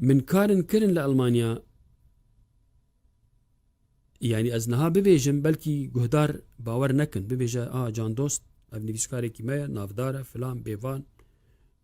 Min karin kirin li Elmanya yanî ez niha bibêjim belkî guhdar bawer nekin bibêje a candost ev nivîskarekî me ye navdar e filan bêvan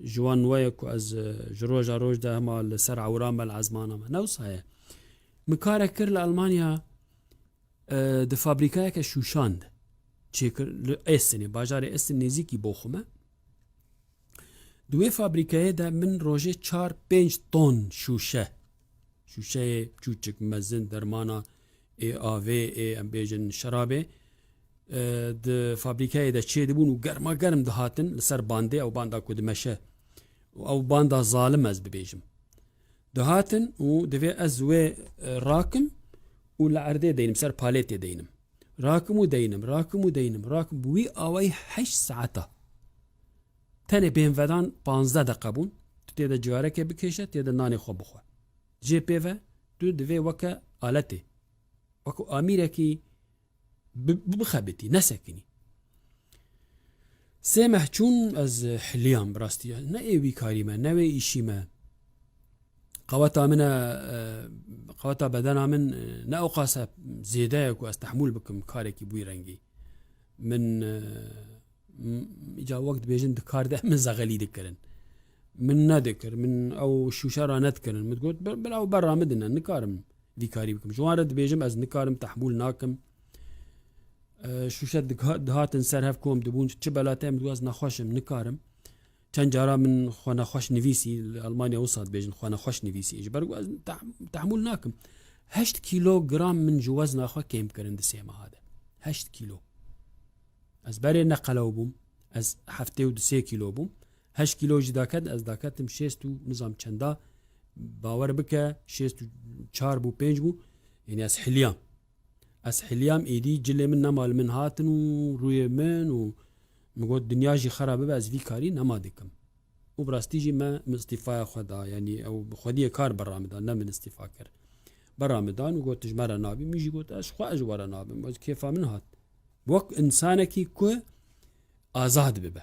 ji wan weye ku ez e, ji roja roj de hema li ser ewra me li ezmana me newsa ye min kare kir li Elmanya e, di fabrîkayeke şûşan de çêkir li Estinê bajarê Estin nêzîkî bo xwe me Di wê fabrîkeyê de min rojê çar pênc ton şûşe şûşeyê çûçik mezin dermana ê avê ê em bêjin şerabê di fabrîkeyê de çê dibûn û germa germ dihatin li ser bandê ew banda ku dimeşe û ew banda zalim ez bibêjim dihatin û divê ez wê rakim û li erdê deynim ser palêtê deynim Rakim û deynim, rakim û deynim, rakim bi wî awayî heşt saeta. Tenê bêhnvedan panzdeh deqe bûn, tu tê de cigareke bikêşe, tê de nanê xwe bixwe. Jê pê ve, tu divê weke aletê, wekû amîrekî bixebitî, nesekinî. Sê meh çûn ez hiliyam bi rastî ne ê wî karî me ne wê îşî me qeweta min e qeweta bedena min ne oqase zêde ye ku ez tehmûl bikim karekî bûî rengî min ca wek dibêjin di kar de min zexelî dikirin min nedikir min ew şûşe ra nedkirin min got bila ew berra midin nikarim vî karî bikim ji wan re dibêjim ez nikarim tehmûl nakim şûşe dihatin ser hev kom dibûn çi belate em dûaz nexweş im nikarim çend cara min xwe nexweş nivîsî li Almanya wisa dibêjin xwe nexweş nivîsî ji ber tehmûl nakim heşt kîlogram min ji wezna xwe kêm kirin di sê meha de heşt kîlo ez berê neqelew bûm ez heftê û di sê kîlo bûm heşt kîlo jî daket ez daketim şêst û nizam çenda bawer bike şêst û çar bû pênc bû yênî ez hiliyam Ez hiliyam êdî cilê min nema li min hatin û rûyê min û min got dinya jî xera bibe ez vî karî nema dikim. Û bi rastî jî me min îstîfaya xwe da yanî ew bi xwediyê kar berra min da ne min îstîfa kir. Berra min dan û got tu ji me re nabî min jî got ez xwe ji we re nabim ez kêfa min hat. Wek însanekî ku azad bibe.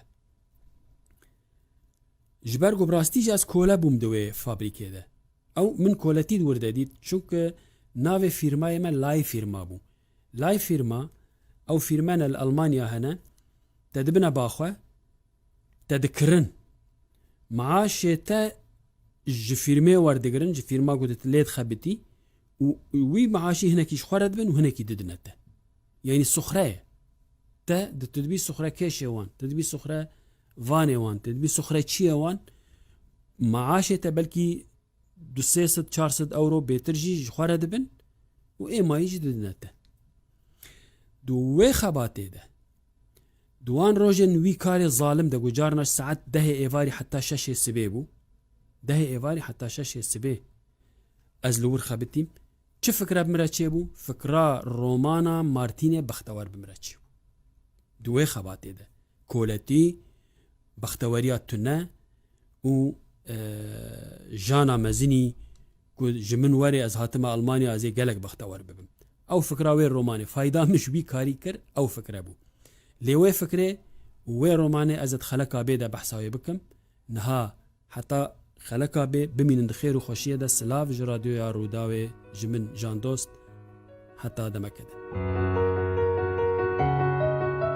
Ji ber ku bi rastî jî ez kole bûm di wê fabrîkê de. Ew min koletî wir de dît çunke navê fîrmayê me Lay Fîrma bû. Lay Fîrma, ew fîrmene li Elmanya hene, te dibine ba xwe, te dikirin. Maaşê te ji fîrmê werdigirin, ji fîrma ku tu lê dixebitî û wî maaşî hinekî ji xwe re dibin û hinekî didine te. Yanî suxre ye. Te di tu dibî suxrekêşê wan, tu dibî suxre Vanê wan tê dibî sixureçiyê wan maaşê te belkî du sê sed çar sed ewro bêtir jî ji xwe re dibin û ê mayî jî didine te. Di wê xebatê de di wan rojên wî karê zalim de ku carina ji saet dehê êvarî heta şeşê sibê bû, dehê êvarî heta şeşê sibê ez li wir xebitîm, Çi fikra bi min re çêbû? Fikra romana Martînê Bextewar bi min re çêbû. Di wê xebatê de koletî, bexteweriya tune û jana mezinî ku ji min werê ez hatime Almanya ez ê gelek bextewar bibim. Ew fikra wê romanê fayda min ji wî karî kir ew fikre bû. Lê wê fikrê û wê romanê ez di xeleka bê de behsa wê bikim. Niha Heta xeleka bê bimînin di xêr û xweşiyê de silav ji Radyoya Rûdawê ji min Jandost heta demeke din.